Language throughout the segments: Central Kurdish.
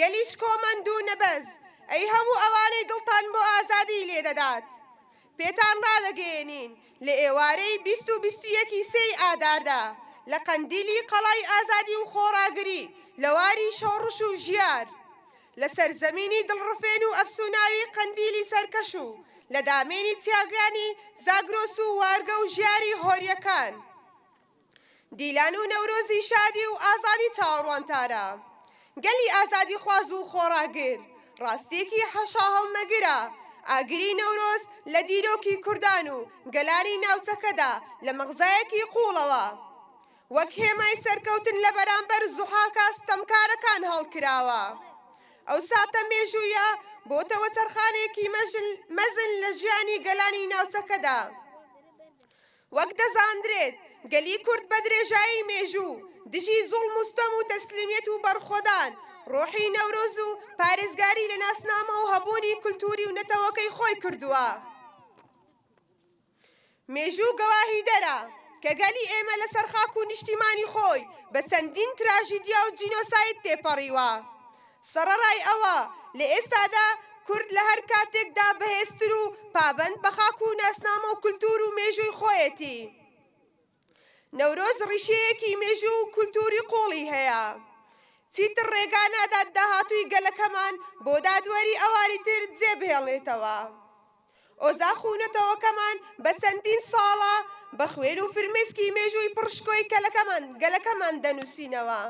گەلی شکۆمەند و نەبەز، ئەی هەموو ئەوانەی دڵتان بۆ ئازادیی لێ دەدات، پێتان ڕادەگەیەنین، لە ئێوارەی بیست و بیست و یەکی سێی ئاداردا، لە قەندیلی قەڵای ئازادی و خۆڕاگری، لە واری شۆڕش و ژیار، لە سەرزەمینی دڵڕفێن و ئەفسووناوی قەندیلی سەرکەش و لە دامێنی چیاگانی زاگرۆس و وارگە و ژیاری هۆرییەکان، دیلان و نەورۆزی شادی و ئازادی چاوەڕوان تارا گەلی ئازادیخواز و خۆڕاگر ڕاستیەکی حەشاهەڵنەگرە ئاگری نەورۆز لە دیرۆکی کوردان و گەلانی ناوچەکەدا لە مەغزایەکی قوڵەوە وەک هێمای سەرکەوتن لە بەرامبەر زوحاکە ستەمکارەکان هەڵکراوە ئەو ساتە مێژوویە بۆتە وەچەرخانێکی مەزن لە ژیانی گەلانی ناوچەکەدا. وەک دەزاندرێت گەلی کورد بە درێژایی مێژوو دژی زوڵم و ستەم و تەسلیمیەت و بەڕخۆدان، ڕۆحی نەورۆز و پارێزگاری لە ناسنامە و هەبوونی کولتووری و نەتەوەکەی خۆی کردووە. مێژوو گەواهیدەرە کە گەلی ئێمە لەسەر خاک و نیشتیمانی خۆی بە چەندین تراژیدیا و جینۆساید تێپەڕیوە. سەڕەڕای ئەوە، لە ئێستادا کورد لە هەر کاتێکدا بەهێزتر و پابەند بە خاک و ناسنامە و کولتوور و مێژووی خۆیەتی. نەورۆز ڕیشەیەکی مێژوو و کولتووری قووڵی هەیە. چیتر ڕێگا نادات داهاتووی گەلەکەمان بۆ دادوەری ئەوانی تر جێ بهێڵێتەوە. ئۆجاخ و نەتەوەکەمان بە چەندین ساڵە بە خوێن و فرمێسکی مێژووی پڕشکۆی کەلەکەمان گەلەکەمان دەنووسینەوە.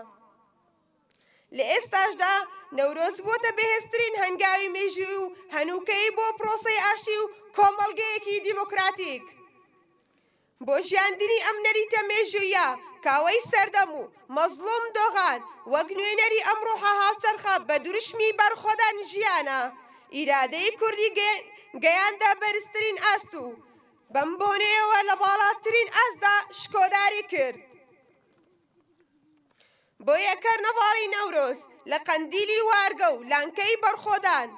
لە ئێستاشدا نەورۆز بووەتە بەهێزترین هەنگاوی مێژووی و هەنووکەیی بۆ پرۆسەی ئاشتی و کۆمەڵگەیەکی دیموکراتیک. بۆ ژیاندنی ئەم نەریتە مێژووییە کاوەی سەردەم و مەزڵوم دۆغان وەک نوێنەری ئەم ڕۆحە هاوچەرخە بە دروشمی بەرخۆدان ژیانە ئیرادەی کوردی گەیاندە بەرزترین ئاست و بەم بۆنەیەوە لە باڵاترین ئاستدا شکۆداری کرد. بۆیە کەرنەڤاڵی نەورۆز لە قەندیلی وارگە و لانکەی بەرخۆدان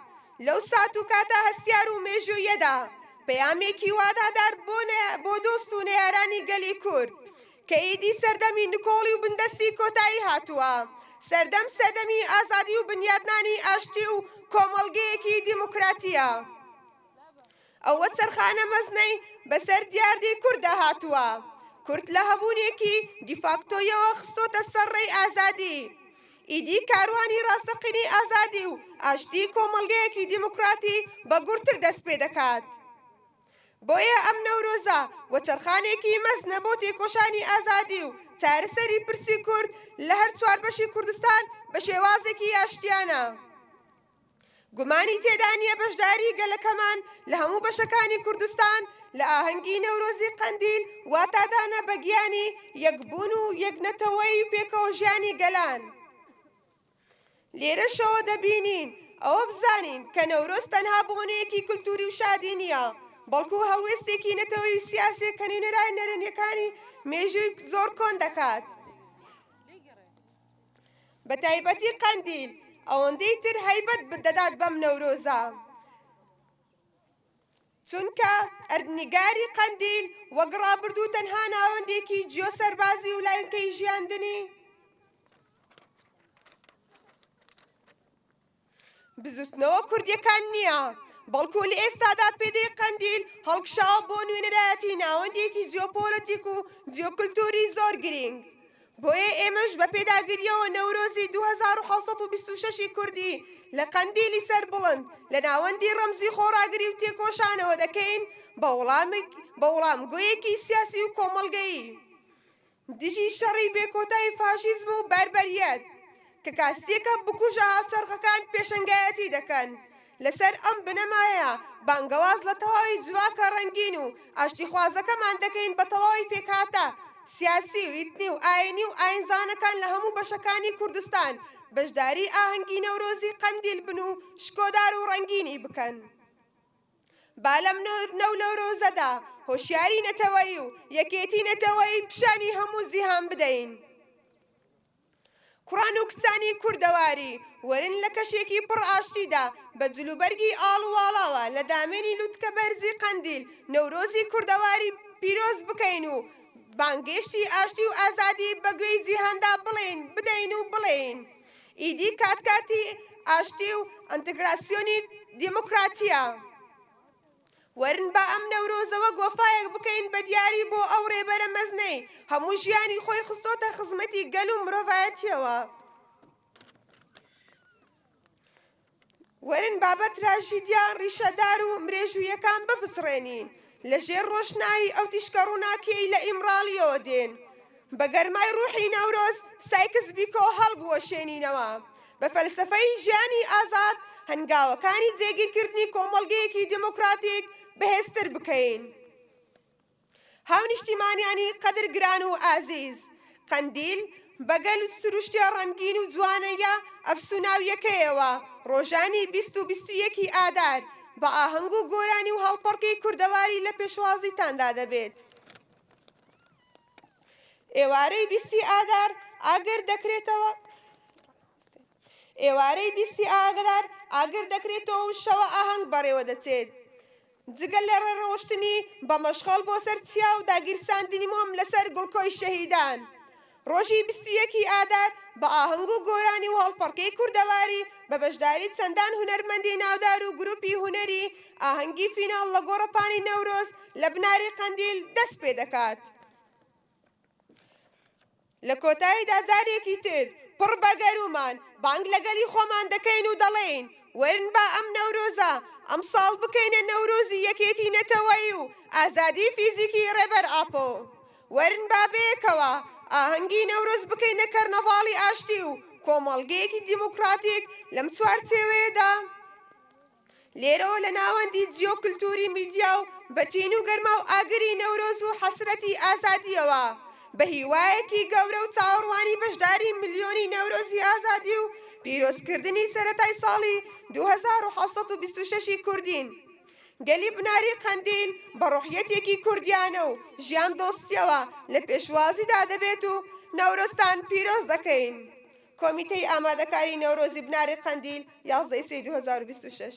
لەو سات و کاتە هەستیار و مێژووییەدا پەیامێکی وادادار بۆ دۆست و نەیارانی گەلی کورد کە ئیدی سەردەمی نکۆڵی و بندەستی کۆتایی هاتووە، سەردەم سەردەمی ئازادی و بنیاتنانی ئاشتی و کۆمەڵگەیەکی دیموکراتییە. ئەو وەچەرخانە مەزنەی بەسەر دیاردەی کورددا هاتووە، کورد لە هەبوونێکی دیفاکتۆیەوە خستۆتە سەر ڕێی ئازادی. ئیدی کاروانی ڕاستەقینەی ئازادی و ئاشتی کۆمەڵگەیەکی دیموکراتی بەگوڕتر دەست پێ دەکات. بۆیە ئەم نەورۆزە وەچەرخانێکی مەزنە بۆ تێکۆشانی ئازادی و چارەسەری پرسی کورد لە هەر چوار بەشی کوردستان بە شێوازێکی ئاشتیانە. گومانی تێدا نییە بەشداری گەلەکەمان لە هەموو بەشەکانی کوردستان لە ئاهەنگی نەورۆزی قەندیل واتادانە بە گیانی یەکبوون و یەکنەتەوەی پێکەوەژیانی گەلان. لێرەشەوە دەبینین ئەوە بزانین کە نەورۆز تەنها بۆنەیەکی کلتوری و شادی نییە، بەڵکو هەڵوێستێکی نەتەوەی و سیاسییە کە نوێنەرایە نەرێنییەکانی مێژووی زۆر کۆن دەکات. بە تایبەتی قەندیل ئەوەندەی تر هەیبەت دەدات بەم نەورۆزە چونکە ئەردنیگاری قەندیل وەک ڕابردوو تەنها ناوەندێکی جیۆ سەربازی و لاینکەی ژیاندنی بزوتنەوە کوردیەکان نیە بەڵکو لە ئێستادا پێگەی قەندیل هەڵکشاوە بۆ نوێنەرایەتی ناوەندێکی جیۆپۆلەتیک و جیۆکلتوری زۆر گرینگ بۆیە ئێمەش بە پێداگریەوە نەورۆزی دوو هەزار و حەوت سەد و بیست و شەش ی کوردی لە قەندیلی سەربڵند لە ناوەندی ڕەمزی خۆڕاگری و تێکۆشانەوە دەکەین بە وڵامێک بە وڵامگۆیەکی سیاسی و کۆمەڵگەیی دژی شەڕی بێکۆتای فاشیزم و بەربەریەت، کە کاسیەکە بکوژە هاوچەرخەکان پێشەنگایەتی دەکەن، لەسەر ئەم بنەمایە بانگەواز لە تەواوی جڤاکە ڕەنگین و ئاشتیخوازەکەمان دەکەین بە تەواوی پێکهاتە سیاسی و ئیتنی و ئاینی و ئاینزانەکان لە هەموو بەشەکانی کوردستان بەشداری ئاهەنگی نەورۆزی قەندیل بن و شکۆدار و ڕەنگینی بکەن. با لەم نەونەورۆزەدا هۆشیاری نەتەوەیی و یەکێتی نەتەوەیی پیشانی هەموو جیهان بدەین کوڕان و کچانی کوردەواری وەرن لە کەشێکی پڕ ئاشتیدا بە جلوبەرگی ئاڵ و واڵاوە لە دامێنی لوتکە بەرزی قەندیل نەورۆزی کوردەواری پیرۆز بکەین و بانگێشتی ئاشتی و ئازادی بە گوێی جیهاندا بڵێین بدەین و بڵێین ئیدی کات کاتی ئاشتی و ئەنتگراسیۆنی دیموکراتییە. وەرن با ئەم نەورۆزەوە گۆفایەک بکەین بە دیاری بۆ ئەو رێبەرە مەزنەی هەموو ژیانی خۆی خستۆتە خزمەتی گەل و مرۆڤایەتییەوە. وەرن با بە تراژیدیا ڕیشەدار و مرێژوویەکان بپچڕێنین لە ژێر ڕۆشنایی ئەو تیشکە ڕووناکیەی لە ئیمڕاڵیەوە دێن. بە گەرمای ڕووحی نەورۆز سایکس بیکۆ هەڵبوەشێنینەوە بە فەلسەفەی ژیانی ئازاد هەنگاوەکانی جێگیرکردنی کۆمەڵگەیەکی دێمۆکڕاتیک بەهێزتر بکەین. هاونیشتیمانیانی قەدر گران و ئازیز، قەندیل بە گەل و سروشتە ڕەنگین و جوانەییە ئەفسوناویەکەیەوە ڕۆژانی بیست و بیست و یەکی ئادار بە ئاهەنگ و گۆرانی و هەڵپەڕکێی کوردەواری لە پێشوازیتاندا دەبێت. ئێوارەی بیستی ئادار ئاگر دەکرێتەوە. ئێوارەی بیستی ئاگدار ئاگر دەکرێتەوە و شەوە ئاهەنگ بەڕێوە دەچێت. جگە لە ڕێڕەوشتنی بە مەشخەڵ بۆ سەر چیا و داگیرساندنی مۆم لەسەر گوڵکۆی شەهیدان، ڕۆژی بیست و یەک ی ئادار بە ئاهەنگ و گۆرانی و هەڵپەڕکێی کوردەواری بە بەشداری چەندان هونەرمەندی ناودار و گروپی هونەری ئاهەنگی فیناڵ لە گۆڕەپانی نەورۆز لە بناری قەندیل دەست پێدەکات. لە کۆتاییدا جارێکی تر پڕ بە گەروومان بانگ لە گەلی خۆمان دەکەین و دەڵێین، وەرن با ئەم نەورۆزە ئەمساڵ بکەینە نەورۆزی یەکێتی نەتەوەیی و ئازادیی فیزیکیی ڕێبەر ئاپۆ. وەرن با بەیەکەوە ئاهەنگی نەورۆز بکەینە کەرنەڤاڵی ئاشتی و کۆمەڵگەیەکی دیموکراتیک لەم چوارچێوەیەدا. لێرەوە لە ناوەندی جیۆکلتوری میدیا و بە تین و گەرما و ئاگری نەورۆز و حەسرەتی ئازادییەوە بە هیوایەکی گەورە و چاوەڕوانی بەشداری ملیۆنی نەورۆزی ئازادی و پیرۆزکردنی سەرەتای ساڵی دوو هەزار و حەوت سەد و بیست و شەش ی کوردین گەلی بناری قەندیل بە ڕوحیەتێکی کوردیانە و ژیان دۆستیەوە لە پێشوازیدا دەبێت و نەورۆزتان پیرۆز دەکەین. کۆمیتەی ئامادەکاری نەورۆزی بناری قەندیل، یازدە ی سێی دوو هەزار و بیست و شەش.